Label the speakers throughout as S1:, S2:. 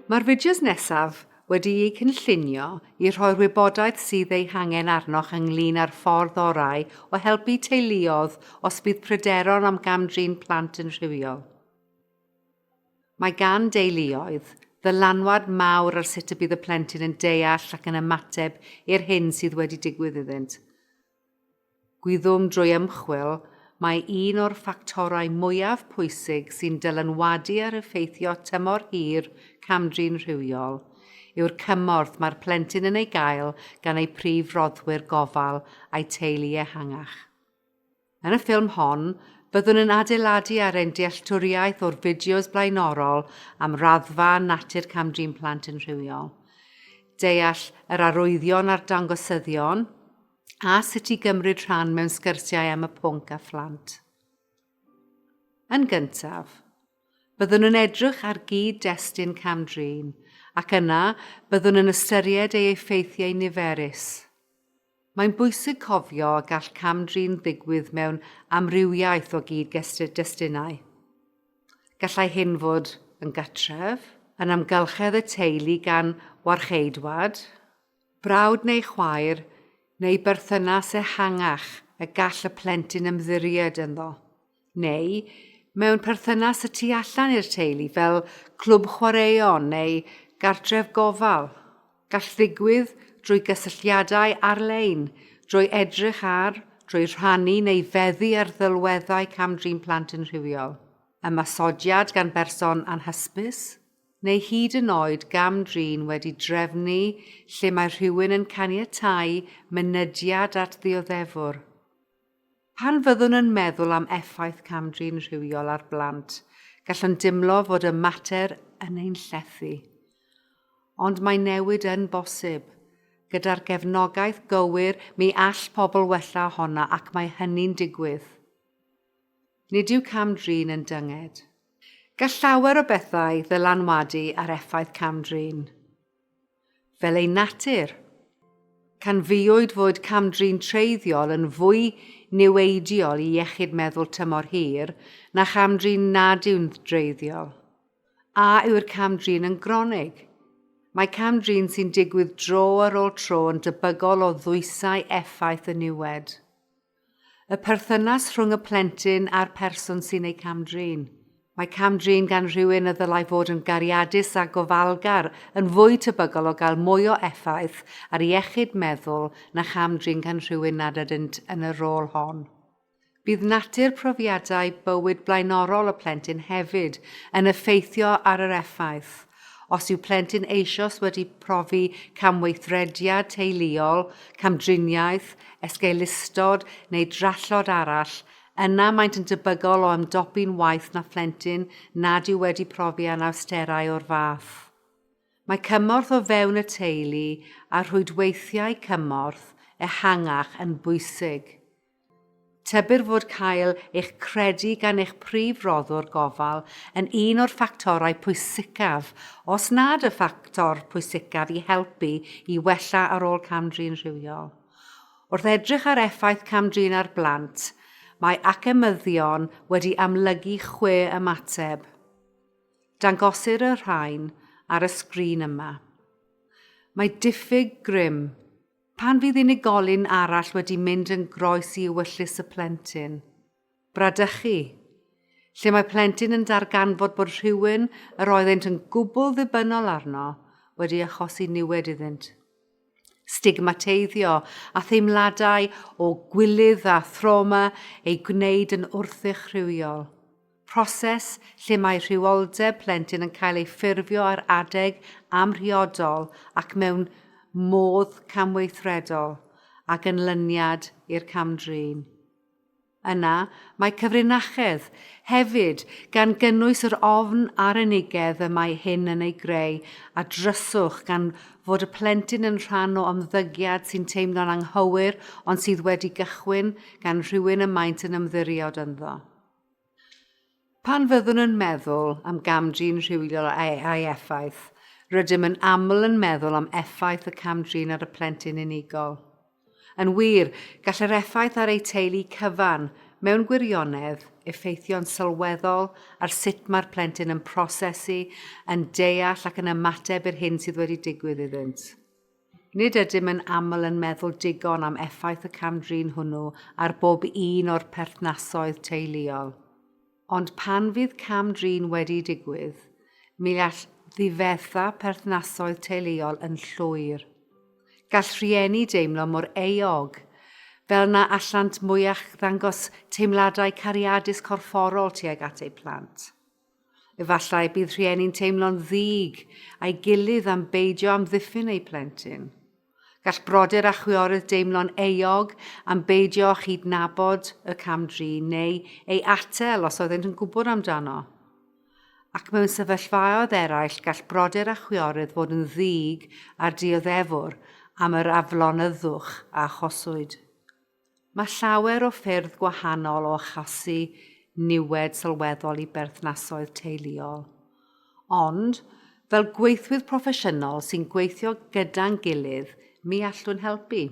S1: Mae'r fideos nesaf wedi eu cynllunio i rhoi'r wybodaeth sydd ei hangen arnoch ynglyn â'r ffordd orau o helpu teuluoedd os bydd pryderon am gam-drin plant yn rhywiol. Mae gan deuluoedd ddylanwad mawr ar sut y bydd y plentyn yn deall ac yn ymateb i'r hyn sydd wedi digwydd iddynt. Gwyddom drwy ymchwil mai un o'r ffactorau mwyaf pwysig sy'n dylanwadu ar effeithio tymor hir cam-drin rhywiol yw'r cymorth mae'r plentyn yn ei gael gan ei prif roddwyr gofal a'i teulu ehangach. Yn y ffilm hon, byddwn yn adeiladu ar ein dealltwriaeth o'r fideos blaenorol am raddfa a natur cam-drin plant yn rhywiol, deall yr arwyddion a'r dangosyddion, a sut i gymryd rhan mewn sgyrsiau am y pwnc â phlant. Yn gyntaf, byddwn yn edrych ar gyd-destun cam-drin ac yna byddwn yn ystyried ei effeithiau niferus. Mae'n bwysig cofio y gall cam-drin ddigwydd mewn amrywiaeth o gyd-destunau. Gallai hyn fod yn gatref, yn amgylchedd y teulu gan warcheidwad, Brawd neu chwaer, neu berthynas ehangach y gall y plentyn ymddiried ynddo. Neu, mewn perthynas y tu allan i'r teulu fel clwb chwaraeon neu gartref gofal. Gall ddigwydd drwy gysylltiadau ar-lein, drwy edrych ar, drwy rhannu neu feddu ar ddelweddau cam-drin plant yn rhywiol, ymosodiad gan berson anhysbys, neu hyd yn oed gam-drin wedi drefnu lle mae rhywun yn caniatáu mynediad at ddioddefwr. Pan fyddwn yn meddwl am effaith cam-drin rhywiol ar blant, gallwn dimlo fod y mater yn ein llethu. Ond mae newid yn bosib. Gyda'r gefnogaeth gywir, mi all pobl wella ohono ac mae hynny'n digwydd. Nid yw cam-drin yn dynged. Gall llawer o bethau ddylanwadu ar effaith cam-drin. Fel ei natur, canfuwyd fod cam-drin treiddiol yn fwy niweidiol i iechyd meddwl tymor hir na cham-drin nad yw'n dreiddiol. A yw'r cam-drin yn gronig? Mae cam-drin sy'n digwydd dro ar ôl tro yn debygol o ddwysau effaith y niwed. Y perthynas rhwng y plentyn a'r person sy'n ei cam-drin. Mae cam-drin gan rhywun y ddylai fod yn gariadus a gofalgar yn fwy tebygol o gael mwy o effaith ar iechyd meddwl na cham-drin gan rhywun nad ydynt yn y rôl hon. Bydd natur profiadau bywyd blaenorol y plentyn hefyd yn effeithio ar yr effaith Os yw plentyn eisoes wedi profi camweithrediad teuluol, camdriniaeth, esgeulustod neu drallod arall, yna maent yn debygol o ymdopi'n waeth na phlentyn nad yw wedi profi anawsterau o'r fath. Mae cymorth o fewn y teulu a rhwydweithiau cymorth ehangach yn bwysig. Tybir fod cael eich credu gan eich prif roddwr gofal yn un o'r ffactorau pwysicaf, os nad y ffactor pwysicaf i helpu i wella ar ôl cam-drin rhywiol. Wrth edrych ar effaith cam-drin ar blant, mae academyddion wedi amlygu chwe ymateb. Dangosir y rhain ar y sgrin yma. Mae diffyg grym, Pan fydd unigolyn arall wedi mynd yn groes i ewyllys y plentyn. Bradychu, lle mae plentyn yn darganfod bod rhywun yr oeddent yn gwbl ddibynnol arno wedi achosi niwed iddynt. Stigmateiddio a theimladau o gwilydd a thrawma ei gwneud yn wrthych rhywiol. proses lle mae rhywioldeb plentyn yn cael ei ffurfio ar adeg amhriodol ac mewn modd camweithredol a gynlyniad i'r cam-drin. Yna, mae cyfrinachedd, hefyd, gan gynnwys yr ofn a'r unigedd y mae hyn yn ei greu, a dryswch gan fod y plentyn yn rhan o ymddygiad sy'n teimlo'n anghywir ond sydd wedi gychwyn gan rhywun y maent yn ymddiried ynddo. Pan fyddwn yn meddwl am gam-drin rhywiol a'i effaith, rydym yn aml yn meddwl am effaith y cam-drin ar y plentyn unigol. Yn wir, gall yr effaith ar eu teulu cyfan, mewn gwirionedd, effeithio'n sylweddol ar sut mae'r plentyn yn prosesu, yn deall ac yn ymateb i'r hyn sydd wedi digwydd iddynt. Nid ydym yn aml yn meddwl digon am effaith y cam-drin hwnnw ar bob un o'r perthnasoedd teuluol. Ond pan fydd cam-drin wedi digwydd, mi all ddifetha perthnasoedd teuluol yn llwyr. Gall rhieni deimlo mor euog, fel na allant mwyach ddangos teimladau cariadus corfforol tuag at eu plant. Efallai bydd rhieni'n teimlo'n ddig a'i gilydd am beidio amddiffyn eu plentyn. Gall brodyr a chwiorydd deimlo'n euog am beidio â chydnabod y cam-drin neu ei atal os oeddent yn gwybod amdano. Ac mewn sefyllfaoedd eraill gall brodyr a chwiorydd fod yn ddig â'r dioddefwr am yr aflonyddwch a achoswyd. Mae llawer o ffyrdd gwahanol o achosi niwed sylweddol i berthnasoedd teuluol. Ond, fel gweithwyr proffesiynol sy'n gweithio gyda'n gilydd, mi allwn helpu.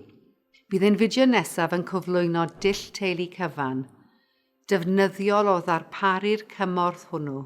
S1: Bydd ein fideo nesaf yn cyflwyno dull teulu cyfan, defnyddiol o ddarparu'r cymorth hwnnw.